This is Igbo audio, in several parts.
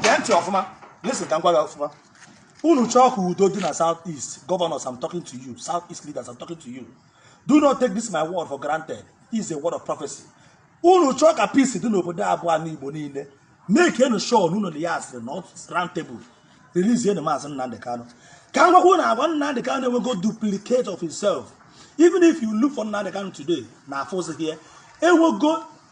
gee ntị ọfụma listen ka m gwa gị ọfụma unu chọọ ka udo dị na south east governors i'm talking to you south east leaders i'm talking to you do not take this my word for granted is a word of prophecy unu chọọ ka peace dị n'obodo a bụ ana igbo niile makenụ sure na unu na ya asịrị na round table releasenụ maazị nnamdi kanu ka m gwakwa unu agwa nnamdi kanu enwego duplicate of himself even if you look for nnamdi kanu today na afụzi here enwego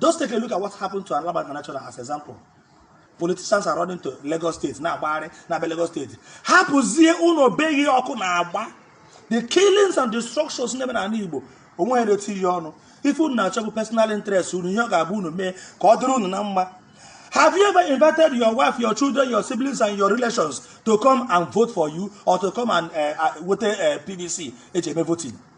Just take a look at what happened to Alaba International as example. Politicians are running to Lagos State na-agbagharị na-abịa Lagos State hapụzie ụlọ be ha ọkụ na-agba the killings and destructions na-eme n'ala Igbo o nweghị na-etinye ọnụ ife unu na-achọ bụ personal interest unu ihe ọ ga-abụ unu mee ka ọ dịrị unu na mma Have you ever invited your wife, your children, your siblings, and your relations to come and vote for you or to come and uh, uh, wete PVC e ji eme voting?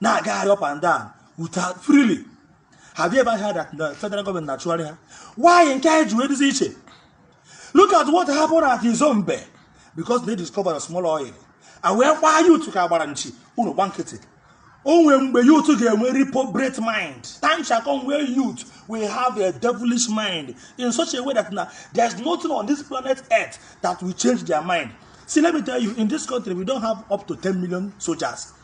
na-agagharị up and down without freely have you ever heard that the federal government na-achụgharị ha why nke anyị ji wee dịzi iche look at what happened at Izombe because they discovered a small oil a wee gbaa youth ka a gbara nchi unu gba nkịtị o nwee mgbe youth ga-enwe reprobate mind time shall come where youth will have a devilish mind in such a way that na there is nothing on this planet earth that will change their mind see let me tell you in this country we don't have up to 10 million soldiers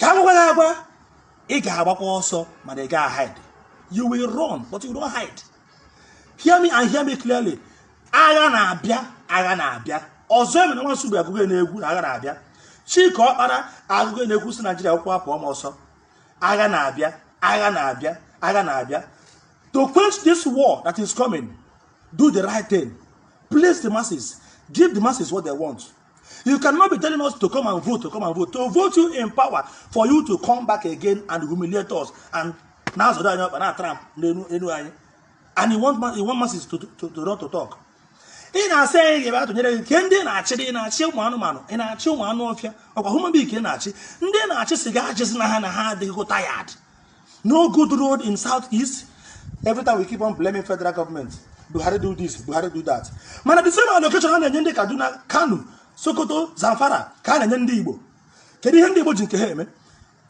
ka a gwakwa gị agwa ị ga-agbakwa ọsọ mana ị gaghị hide you will run but you don't hide hear me and hear me clearly agha na-abịa agha na-abịa ọzọemena nwa nsugbe agụgo n'egwu na agha na-abịa chika okpala agụgo n'egwu sị naijiria akwụkwọ apụọ ma ọsọ agha na-abịa agha na-abịa agha na-abịa to quench this war that is coming do the right thing please the masses give the masses what they want You cannot be telling us to come and vote, to come and vote, to vote you in power for you to come back again and humiliate us and na-azọda na trample enu anyị and you want you want masses to, to, to not to talk. ị na-asị anyị ga-abịa tụnyere gị kedu ndị ị na-achị ị na-achị ụmụ anụmanụ ị na-achị ụmụ anụ ọfịa ọ kwa human being ka ị na-achị ndị ị na-achị sị gị achịzina na ha adịgo tired no good road in south east every time we keep on blaming federal government buhari do this buhari do that mana the same allocation a na-enye ndị kaduna kano sokoto zamfara ka a na-enye ndị igbo kedu ihe ndị igbo ji nke ha eme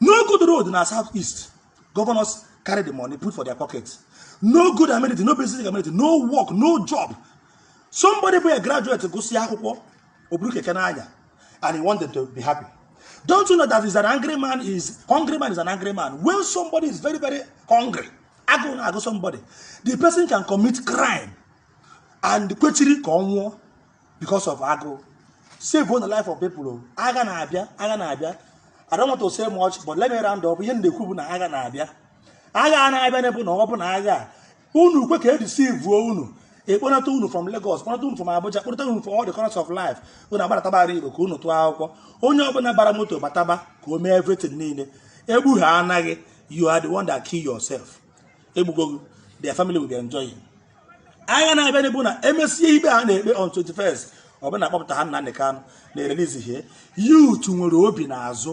no good road na south east governors carry the money put for their pocket no good amenity no basic amenity no work no job somebody bụ a graduate gụsịa akwụkwọ o buru keke na-anya and you want them to be happy. Don't you know that is an angry man is hungry man is an angry man. When somebody is very, very hungry, agụụ na-agụ somebody, the person can commit crime and kwechiri ka ọ nwụọ because of agụụ. Savenụ the life of people. Oh. Agha na-abịa, agha na-abịa. I don't want to say much, but let me round up. Ihe m na-ekwu bụ na agha na-abịa. Agha na-abịa na-ebu na ọ bụ na agha unu kwe ka edisivuo unu akpọnata unu from Lagos kpọnata unu from Abuja kpọnata unu from all the corners of life unu agbarataba ala Igbo ka unu tụọ akwụkwọ onye ọbụla bara moto bataba ka o mee everything niile egbu ha anaghị you are the one that kill yourself egbugo gị their family will be enjoying agha na-abịa ọ bụ na emesie ikpe a na-ekpe on 21st ọbụna akpọpụta ha Nnamdi Kanu na-erelizi ihe youth nwere obi n'azụ